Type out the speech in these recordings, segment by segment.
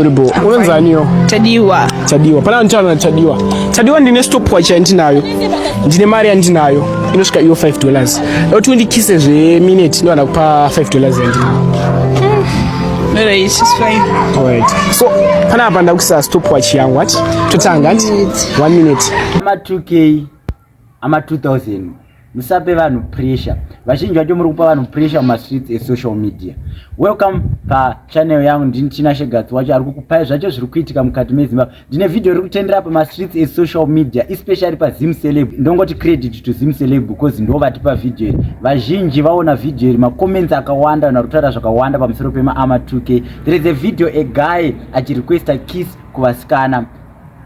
Honorable, unonzaniyo? Tadiwa. Tadiwa. Pana mtano na Tadiwa. Tadiwa ndine stopwatch yandinayo. Ndine mari yandinayo. Inosvika iyo 5 dollars. Loti undikise zve minute ndo anakupa 5 dollars yandinayo. Hmm. Alright, it's fine. Alright. So, pana hapa ndakisa stopwatch yangu ati. Totanga ati. 1 minute. Ama 2k. ama 2000 musape vanhu pressure vazhinji vacho muri kupa vanhu pressure mumastreets esocial media welcome pachannel yangu ndini china shegatsi wacho ari kukupai zvacho zviri kuitika mukati mezimbabwe ndine vhidhiyo riri kutendera pamastreets esocial media especially pazim celeb ndongoti credit to zim celeb because ndo vatipa vhidhiyo iri vazhinji vaona vhidhiyo iri macomments akawanda vanhu vari kutaura zvakawanda pamusoro pemaama 2k there is a video a guy achirequesta kiss kuvasikana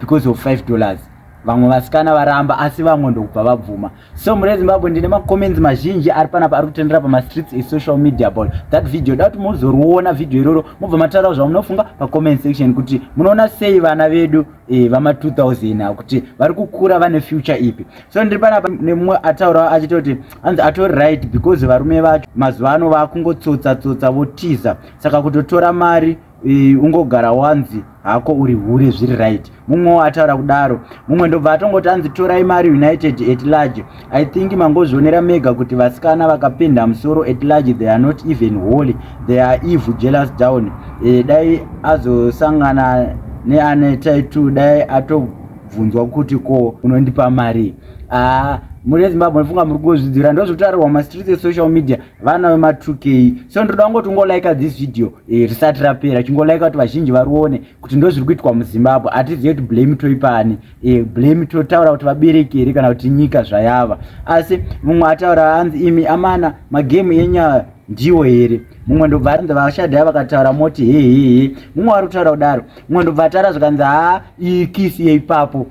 because of 5 dollars vamwe vasikana varamba asi vamwe ndokubva vabvuma so mure zimbabwe ndine macomments mazhinji ari panapa ari kutendera pamastreets esocial media about that video da kuti mozoriona video iroro mobva mataurawo zvamunofunga pacomment section kuti munoona sei vana vedu e, vama 2000 a kuti vari kukura vane future ipi so ndiri panapa nemumwe ataurawo achita kuti anzi atori right because varume vacho mazuva ano vakungotsotsa tsotsa votiza saka kutotora mari Eh, ungogara wanzi hako uri hure zviri right mumwewo ataura kudaro mumwe ndobva atongoti anzi torai mari united at large i think mangozvionera mega kuti vasikana vakapenda musoro at large they are not even holy they are evil jealous down e, dai azosangana neane taitu dai atobvunzwa kuti ko unondipa mari aa ah, muri ezimbabwe ndifunga muri kuzvidzira ndozvitarirwa mumastreets esocial media vana vema2k so ndinoda kungoti ungolaika this video Eh, risati rapera chingolaika kuti vazhinji varione kuti ndo zviri kuitwa muzimbabwe hatizive kuti blame toipani eh, blame totaura kuti vabereki here kana kuti nyika zvayava asi mumwe ataura anzi imi amana magemu enyaya ndiwo here mumwe ndobva arinzi vashadhaya vakataura moti hehehe mumwe wari kutaura kudaro mumwe ndobva atara zvikanzi haa iyi kisi yeipapo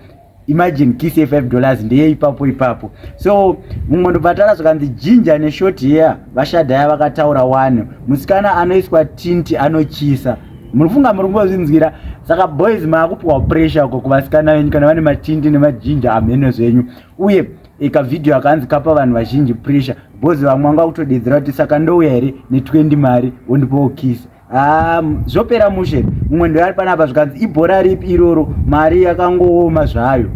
imagine kiss ye 5 dollars ndeye ipapo ipapo so mumwe ndobvatara zvakanzi jinja neshort here vashadhaya vakataura wani musikana anoiswa tinti anochisa munofunga muri kumbozvinzwira saka boys maakupiwa pressure uko kuvasikana venyu kana vane matinti nemajinja amheno zvenyu uye ikavhidhiyo akanzi kapa vanhu vazhinji pressure boys vamwe vanga kutodedzera kuti saka ndouya here ne20 mari wondipowo kisa Ah, zvopera mushe mumwe ndoyari panapa zvikanzi ibhora ripi iroro mari yakangooma zvayo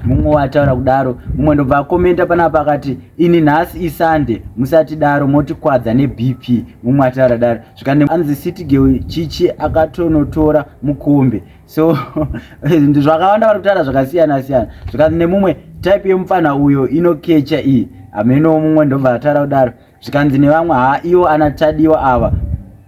mumwe wataura kudaro mumwe ndobva akomenta panapa akati ini nhasi isande musatidaro motikwadza nebp mumwe ataura daro zvikanzi anzi city girl chichi akatonotora mukombe so zvakawanda vari kutaura zvakasiyana siyana zvikanzi nemumwe type yemupfanha uyo inokecha iyi hameno mumwe ndobva ataura kudaro zvikanzi nevamwe haa iwo ana tadiwa ava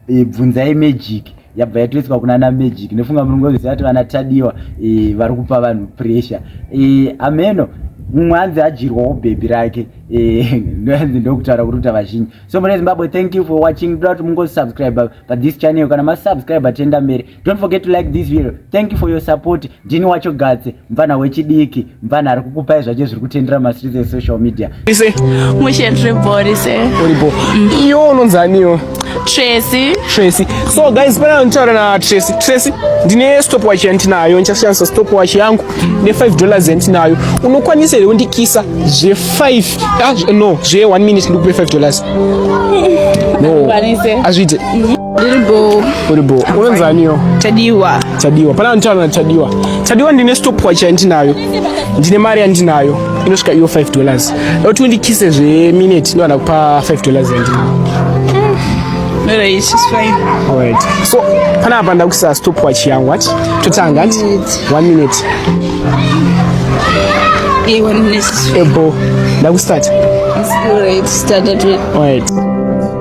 e, bvunzai magic yabva yatoiswa kuna ana magic ndofunga muringoziva kuti vana tadiwa e, vari kupa vanhu pressure e, ameno mumwe anzi adyirwawo bhebhi rake e, ndoanzi ndokutaura kuruta vazhinji so mune zimbabwe thank you for watching toda kuti mungosubscribe pathis channel kana masubscribe tenda mberi Don't forget to like this video. Thank you for your support. Ndini wacho Gatse, mvana wechidiki, mvana ari kukupai zvacho zviri kutendera mastreets esocial media. Ise. Mushe ndiri body se. Uri bo. Mm. Iyo unonzi aniyo. Tracy. Tracy. So guys, pana nditaura na Tracy. Tracy, ndine stopwatch yandinayo, ndichashandisa stopwatch yangu ne 5 dollars yandinayo. Unokwanisa here kundikisa zve 5? Ah, no, zve 1 minute ndikupe 5 dollars. No. Azvite. Lilbo. Lilbo. Unonzaniyo? Chadiwa. Chadiwa. Pana mtano na Chadiwa. Chadiwa ndine stop watch yandinayo. Ndine mari yandinayo. Inosvika iyo 5 dollars. Loti undikise zve minute ndo anakupa 5 dollars yandinayo. Hmm. Alright, it's fine. Alright. So, pana apa ndakuisa stop watch yangu ati. Totanga ati. 1 minute. Yeah, 1 minute. Ebo. Ndakustart. It's alright. Start at 1. Alright.